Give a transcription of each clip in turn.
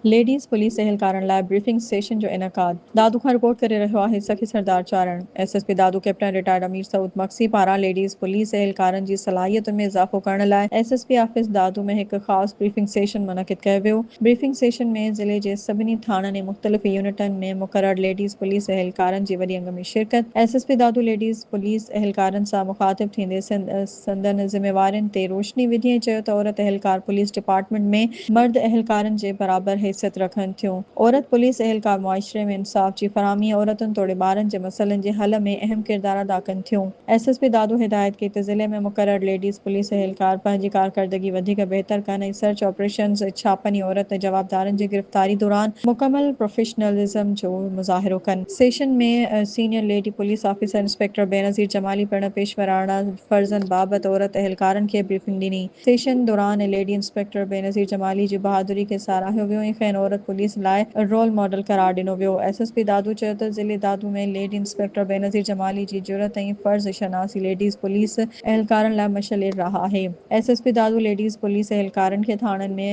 Ladies police اهلڪارن لاء briefing session جو انعقاد، دادو کان رپورٽ ڪري رهيو آهي Sakhi Sardar Charan, S S P Dadu captain retired Amir Saud Magsi پاران ليڊيز پوليس اهلڪارن جي صلاحيتن ۾ اضافو ڪرڻ لاء S S P office Dadu ۾ هڪ خاص بريفنگ سيشن منعقد ڪيو ويو، بريفنگ سيشن ۾ ضلعي جي سڀني ٿاڻن ۽ مختلف يونٽن ۾ مقرر ليڊيز پوليس اهلڪارن جي وڏي انگ ۾ شرڪت، S S P Dadu ladies police اهلڪارن سان مخاطب ٿيندي سنڌ. سندن ذميوارين تي روشني وجهي ۽ چيو ته عورت اهلڪار پوليس ڊپارٽمينٽ ۾ مرد اهلڪارن جي برابر حيثيت رکن ٿيون، عورت پوليس اهلڪار معاشري ۾ انصاف جي فراهمي ۽ عورتن توڙي ٻارن جي مسئلن جي حل ۾ اهم ڪردار ادا ڪن ٿيون. ايس ايس پي دادو هدايت ڪئي ته ضلعي ۾ مقرر ليڊيز پوليس اهلڪار پنهنجي ڪارڪردگي وڌيڪ بهتر ڪن ۽ سرچ آپريشنز، ڇاپن ۽ عورت جوابدارن جي گرفتاري دوران مڪمل پروفيشنلزم جو مظاهرو ڪن. Session ۾ senior lady police officer inspector Benazir Jamali پڻ پيشوراڻا فرضن بابت عورت اهلڪارن کي بريفنگ ڏني. سيشن دوران ليڊي انسپيڪٽر بينظير جمالي جي بهادري کي ساراهيو ويو ۽ کين عورت پوليس لاء رول ماڊل قرار ڏنو ويو. ايس ايس پي دادو چيو ته ضلعي دادو ۾ ليڊي انسپيڪٽر بينظير جمالي جي جرئت ۽ فرض شناسي ليڊيز پوليس اهلڪارن لاء مشعل راهه آهي. S S P Dadu ladies police اهلڪارن کي ٿاڻن ۾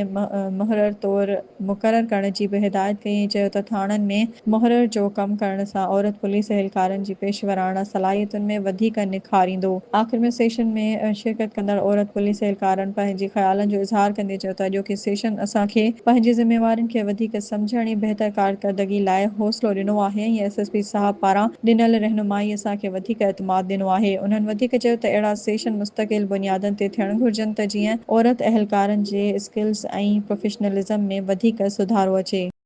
مهرر طور مقرر ڪرڻ جي به هدايت ڪئي ۽ چيو ته ٿاڻن ۾ محرر جو ڪم ڪرڻ سان عورت پوليس اهلڪارن جي پيشوراڻا صلاحيتن ۾ وڌيڪ نکار ايندو. آخر ۾ سيشن ۾ شرڪت ڪندڙ عورت پوليس اهلڪارن پنهنجي خيالن جو اظهار ڪندي چيو ته اڄوڪي سيشن اسان کي پنهنجي ذميوارين کي وڌيڪ سمجهڻ ۽ بهتر ڪارڪردگي لاء حوصلو ڏنو آهي ۽ ايس ايس پي صاحب پاران ڏنل رهنمائي اسان کي وڌيڪ اعتماد ڏنو آهي انهن وڌيڪ چيو ته اهڙا سيشن مستقل بنيادن تي ٿيڻ گهرجن ته جيئن عورت اهلڪارن جي اسڪلز ۽ پروفيشنلزم ۾ وڌيڪ سڌارو اچي.